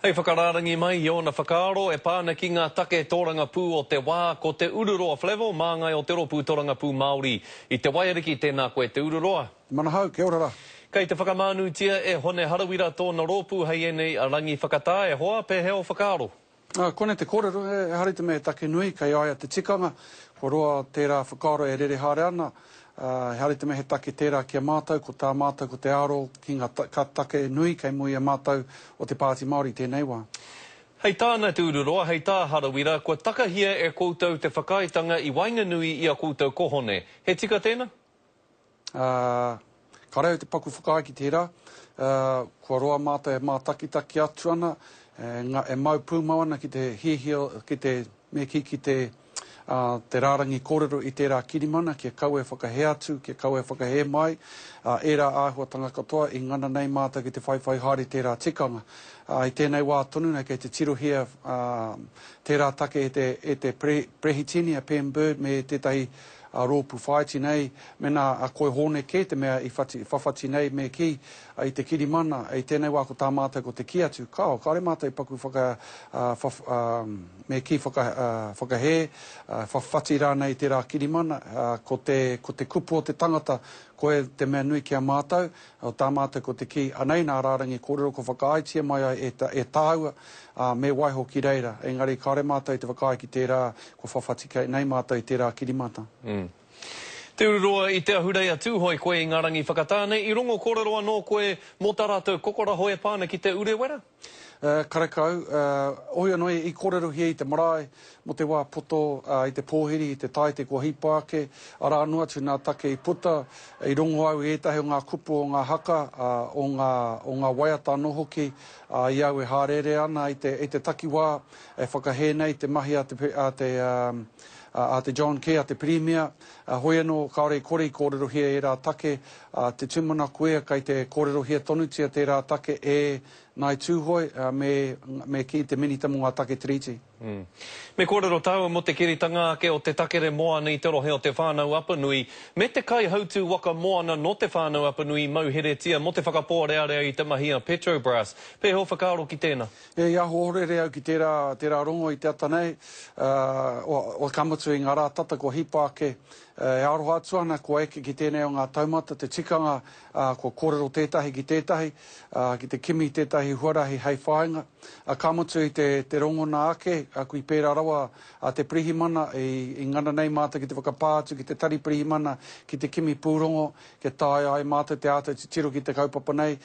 Hei whakarārangi mai i ōna whakaaro e pā ana ki ngā take tōrangapū o te wā, ko Te Ururoa Flavell, māngai o te rōpū torangapū Māori i Te Waiariki, tēnā koe Te Ururoa. Manahau, kia ora ra. Kei te whakamānūtia e Hone Harawira tōna rōpū hei ēnei rangi whakatā, e hoa, pēhea ō whakaaro? Ā, koinei te kōrero, ehara i te mea he take nui, kei a ia te tikanga, kua roa tērā whakaaro e rere haere ana. ā, he hari te mehe take tērā ki a mātou, ko tā mātou ko te aro ki ngā ka take nui kei mua i a mātou o te Pāti Māori i tēnei wā. Hei tāna te ururoa, hei tā Harawira, kua takahia e koutou te whakaaetanga i waenganui i a koutou kohone. He tika tēnā? Ā, Kāre au te paku whakaae ki tērā, kua roa mātou e mātakitaki atu ana, e mau pūmau ana ki te hiahia, ki te, me kī, ki te rārangi kōrero i tērā kirimana kia kaua e whakahē atu, kia kaua e whakahē mai ērā āhuatanga katoa i ngana nei mātou ki te whaiwhai haere i tērā tikanga. I tēnei wā tonu nei kei te tirohia tērā take e te Perehitini, a Pam Bird, me tētahi a roopu whaaiti nei, mena a Koi Hoone kee te mea i whati, whawhati nei, me ki, a i te kirimana, i tenei waa ko taa maatou ko te kii atu, kao, kaore maatou i paku whaka, a, wha, a, me ki whaka, a, whakahee, a, whawhati raanei teraa kirimana, a, ko te, ko te kupu o te tangata, koe te mea nui ki a maatou, O tā mātou ko te kī, anei nā rārangi kōrero kua whakaaetia mai ai e, e tāua, ā, me waiho ki reira. Engari kāore mātou te whakaae ki tērā, kua whawhati kei, nei mātou i tērā kirimata. Umm. Te ururoa i te ahurei a Tūhoe koe i ngā rangi whakatā nei i rongo kōrero anō koe mō tā rātou kokoraho e pā ana ki te urewera? Karekau, ohia noa i kōrerohia i te marae mō te wā poto i te pōhiri, i te tāite kua hipa ake, arā noa atu nā take i puta, i rongo au i ētahi o ngā kupu o ngā haka, o ngā, o ngā waiata anō hoki, ā, i au e hāreere ana i te, i te takiwā e whakahē nei te mahi a te, a te, a te John Key, a te Pirimia, hoi anō kāore i kore i kōrerohia ērā take A te tumana kuea kei te kōrerohia tonutia tērā take e Ngāi Tūhoe me me kī te Minita mō ngā Take Tiriti. Me kōrero tāua mō te kiritanga ake o te takere moana i te rohe o Te Whānau-a-Apanui me te kaihautū waka moana nō Te Whānau-a-Apanui i mauheretia mō te whakapōrearea i te mahi a Petrobras. Pēhea ō whakaaro ki tēnā? He i ahu ohorere au ki tērā tērā rongo i te ata nei, ā, o, o, ka mutu i ngā rā tata kua hipa ake E aroha atu ana kua eke ki tēnei o ngā taumata te tikanga kua kōrero tētahi ki tētahi, ki te kimi tētahi huarahi hei whāinga. Ka mutu i te rongona ake, kui pērā rawa te pirihimana i ngana nei mātou ki te whakapā atu ki te tari pirihimana ki te kimi pūrongo kia taea ai mātou te āta titiro ki te kaupapa nei.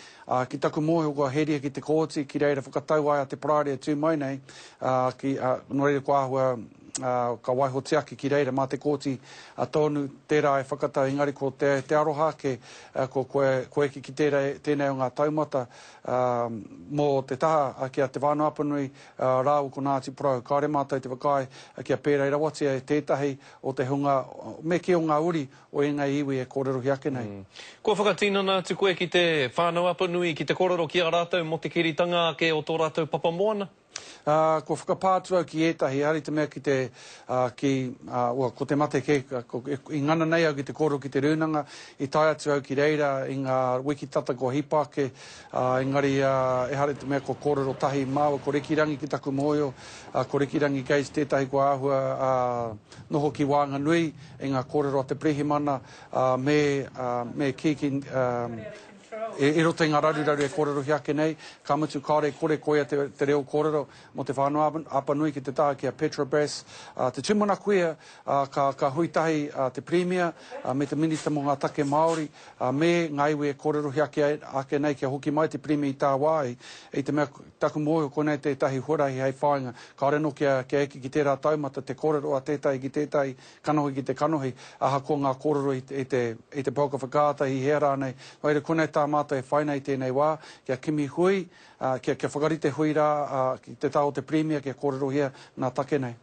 Ki taku mōhio kua heria ki te kooti ki reira whakatau ai a Te Parāoretu mai nei, nō reira kua āhua ka waihotia ake ki reira mā te Kōti tōnu tērā e whakatau engari ko te te aroha ake ko koe koe ki tērā tēnei o ngā taumata mō te taha ki a Te Whānau-a-Apanui rāua ko Ngāti Porou kāore mātou te whakaae kia pērei rawatia e tētahi o te hunga me kī o ngā uri o ēnei iwi e kōrerohia ake nei. Kua whakatinana atu koe ki Te Whānau-a-Apanui ki te kōrero ki a rātou mō te kiritanga ake o tō rātou papamoana? Ā, kua whakapā atu au ki ētahi, āri te mea ki te, ā, ki, ā, ua, ko te mate kē, ko, e, i ngana nei au ki te kōrero ki te rūnanga, i tae atu au ki reira i ngā wiki tata kua hipa ake, ā, engari, ā, ehara i te mea kua kōrero tahi māua, ko Rikirangi ki taku mōhio, ā, ko Rikirangi Gates tētahi kua āhua, ā, noho ki waenganui i ngā kōrero a te Pirihimana, ā, me, ā, me kī ki, ā, I roto i ngā raruraru e kōrerohia ake nei, ka mutu kāore i kore koia te reo kōrero mō te whānau Apanui ki te taha ki a Petrobras, te tūmana kuia, ka hui tahi te Pirimia me te Minita mō ngā Take Māori me ngā iwi e kōrerohia ake nei kia hoki mai te Pirimia i tāwāhi i te mea taku mōhio konei tētahi huarahi hei whāinga kāore anō kia eke ki tērā taumata te kōrero a tētahi ki tētahi Kanohi ki te kanohi, ahakoa ngā kōrero i te, i te pauka whakaata, i hea rānei, wā reira koinei tā mātou e whai nei i tēnei wā, kia kimi hui, ā, kia, kia whakarite hui rā, ā, ki te tā o te Pirimia kia kōrerohia nā take nei.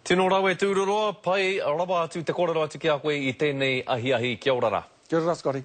Tino rawe tūroroa, pai rawa atu te korero atu ki a koe i tenei ahiahi kia ora ra. Kia ora ra Scotty.